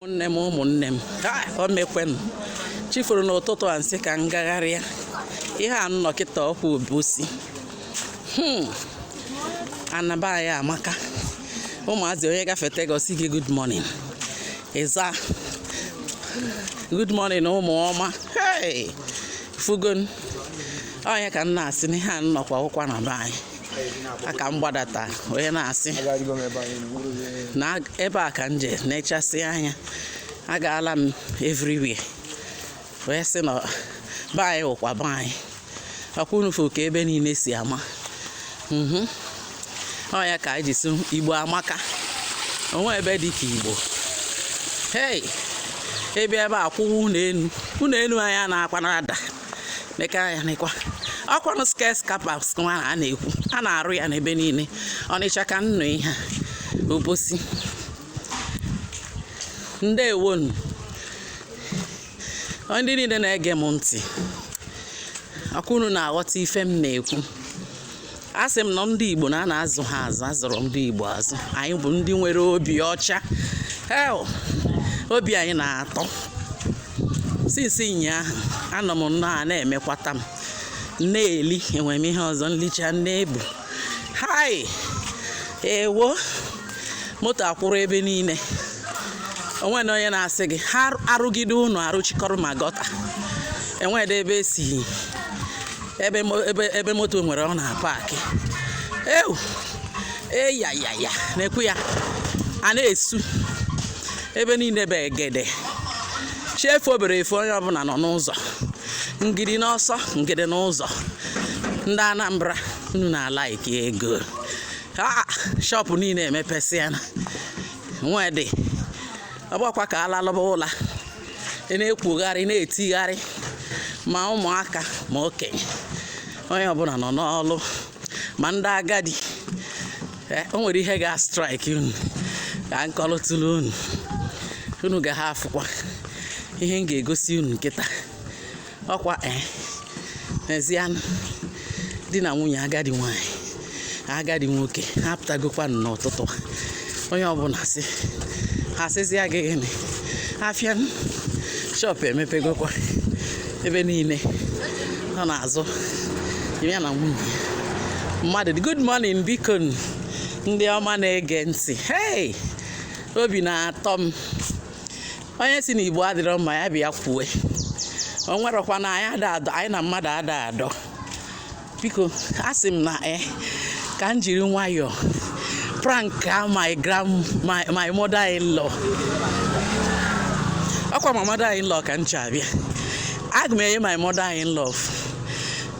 ụmụnne m ụmụnne m o mekwenụ chi foro n'ụtụtụ a m sị ka m gagharịa ihe a m nọ kịta ọkwa obosi hmm. ana be anyị amaka ụmụazị onye gafete gị ọ sị gị good morning ị za good morning ụmụ ọma fụgonụ onye ka m na-asị n'ihe a m nọkwa wụkwa ana be anyị aka m gbadata onye na-asị na ebe a ka m je nechasịa anya agaala m everywhere wee sị na be anyị wụkwa be anyị ọkwa unu fụ ka ebe niile si ama mhm. ọ ya ka anyị ji sị igbo amaka o nwe ebe dị ka igbo hei ebe ebe a kwụwa ụnọ enu ụnọ enu anyị a na-akwa na ada meka ya nekwa ọkwanụ skyscrapers nwa a na-ekwu a na-arụ ya n'ebe niile ọnịcha ka m nọ ihe obosi ndeewonụ ndị niile na-ege m ntị ọkwa unu na-aghọta ife m na-ekwu asị m na ndị Igbo na a na-azụ ha azụ a zụrụ ndị Igbo azụ anyị bụ ndị nwere obi ọcha obi anyị na-atọ since ụnyaahụ anọ m nnọọ a na-emekwata m na-eli enwere m ihe ọzọ m licha na-ebu hai ewo moto akwụrụ ebe niile o nwena onye na-asị gị ha arụgide ụnọ arụchikọrọ ma gutter e nwedị ebe e si ebe mo- ebe ebe moto nwere ọ na-apakị ewu eyayaya na-ekwu ya a na-esu ebe niile bụ egede chi fo obere efo onye ọbụla nọ n'ụzọ ngidi n'ọsọ ngidi n'ụzọ ndị anambra unu na-alike ego Ah, shọpụ niile emepesịana nwedị ọ bụkwa ka a lalụba ụla ị na-ekwogharị na-etigharị ma ụmụaka ma okenye onye ọbụla nọ n'ọlụ ma ndị agadi eh, o nwere ihe ga strike unu ka m kọlụtụlụ unu unu ga ha afụkwa ihe m ga-egosi unu kịta ọkwa eh, nezianụ di na nwunye agadi nwanyị agadi nwoke ha pụtagokwanụ n'ụtụtụ a onye ọbụla si ha sịzịa gị gịnị afịa shọpụ emepegokwa ebe niile ọ na-azụ ya na nwunye ya mmadụ good morning biko ndị ọma na-ege ntị hey obi na-atọ m onye sị na igbo adịrọ mma ya bịa kwue o nwerọkwa na anyị ada adọ anyị na mmadụ ada adọ biko asị m na e ka m jiri nwayọọ prank a my grand my, my mother in law ọkwa my mother in law ka m chọ abịa aga m enye my mother in law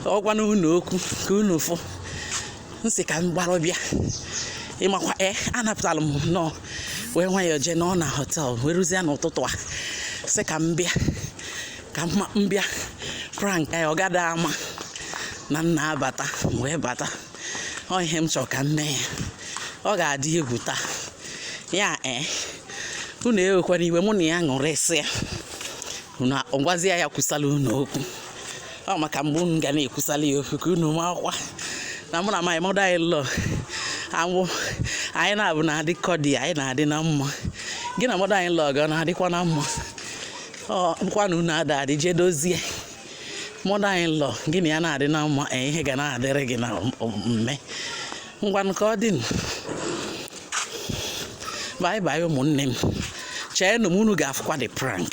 ọ gwa na unu okwu ka unu fụ m sị ka m gbara bịa ịmakwa e anapụtara m nnọọ wee nwayọọ jee nọ na hotel wee ruzie n'ụtụtụ a sị ka m bịa ka m bịa prank ya ọ gada ama na m na-abata wee bata ọ ihe m chọrọ ka m mee ya ọ ga-adị egwu taa ya ee unu ewekwana iwe mụ na ya ṅụrịsịa unu agwazie ya kwusala unu okwu ọ maka mgbe unu ga na-ekwusala ya okwu ka unu makwa na mụ na my mother in law anwụ anyị na-abụ na-adị cordial anyị na-adị na mma gị na mother in law gị na-adịkwa na mma bụkwa na unu ada adị jee dozie mother in law gị na ya na-adị na mma e, ihe ga na-adịrị gị na mma ngwa nke ọ dị bye bye ụmụnne m cheenụ m unu ga-afụkwa the prank